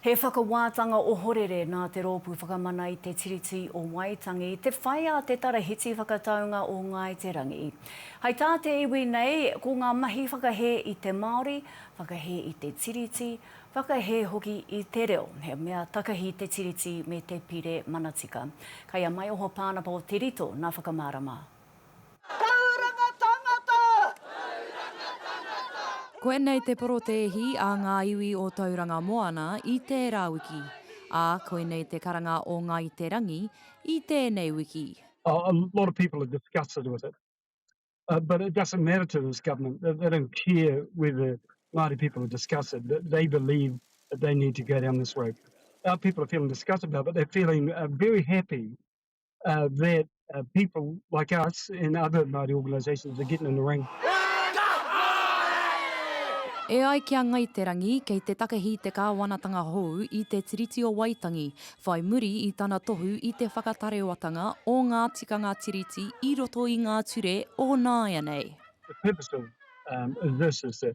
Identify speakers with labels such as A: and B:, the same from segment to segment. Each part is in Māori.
A: He whakawātanga ohorere nā Te Rōpū Whakamana i Te Tiriti o Waitangi te whai a Te Tarahiti Whakataunga o Ngāi Te Rangi. Hai tā te iwi nei, ko ngā mahi whakahē i te Māori, whakahē i te Tiriti, whakahē hoki i te reo, he mea takahi te Tiriti me te Pire Manatika. Kei a Maioho Pānapa o Te Rito nā Whakamārama. Tauranga tangata! Tauranga tangata!
B: Koinei te porotēhi a ngā iwi o Tauranga Moana i tērā wiki, ā, koinei te karanga o Ngāi Te Rangi i tēnei wiki. Oh, a lot of
C: people are disgusted with it. Uh, but it doesn't matter to this government. They, they don't care whether Māori people are disgusted. They, they believe that they need to go down this road. Our people are feeling disgusted about it, but they're feeling uh, very happy uh, that uh, people like us and other Māori organisations are getting in the ring.
B: E ai ki a Ngai Te Rangi, kei te takehi te kāwanatanga hou i te Tiriti o Waitangi, whai muri i tana tohu i te whakatarewatanga o ngā tikanga Tiriti i roto i ngā ture o nāianei. The purpose of
C: um, this is that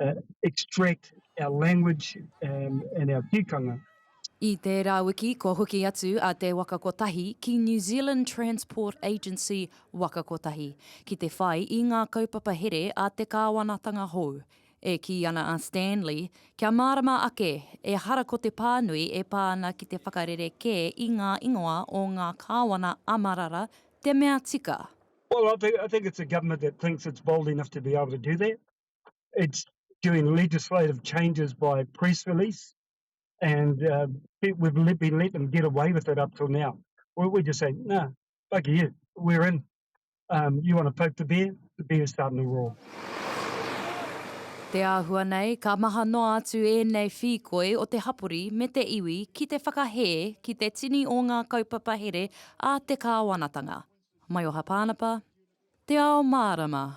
C: uh, extract our language um, and our tikanga. I tērā
B: wiki kua hoki atu a Te Waka Kotahi ki New Zealand Transport Agency Waka Kotahi ki te whai i ngā kaupapa here a te kāwanatanga hou. E kī ana a Stanley, kia mārama ake, ehara ko te pānui e pā ana ki te whakarere kē i ngā ingoa o ngā kāwana a Marara te mea tika. Well, I think, I
C: think it's a government that thinks it's bold enough to be able to do that. it's doing legislative changes by press release, and uh, we've let, been let them get away with it up till now. We, we just say, no, nah, fuck you, we're in. Um, you want to poke the bear? The bear's starting to roar.
B: Te āhua nei, ka maha noa atu ēnei whīkoi o te hapori me te iwi ki te whakahē ki te tini o ngā kaupapa here a te kāwanatanga. Maioha Pānapa, Te Ao Mārama.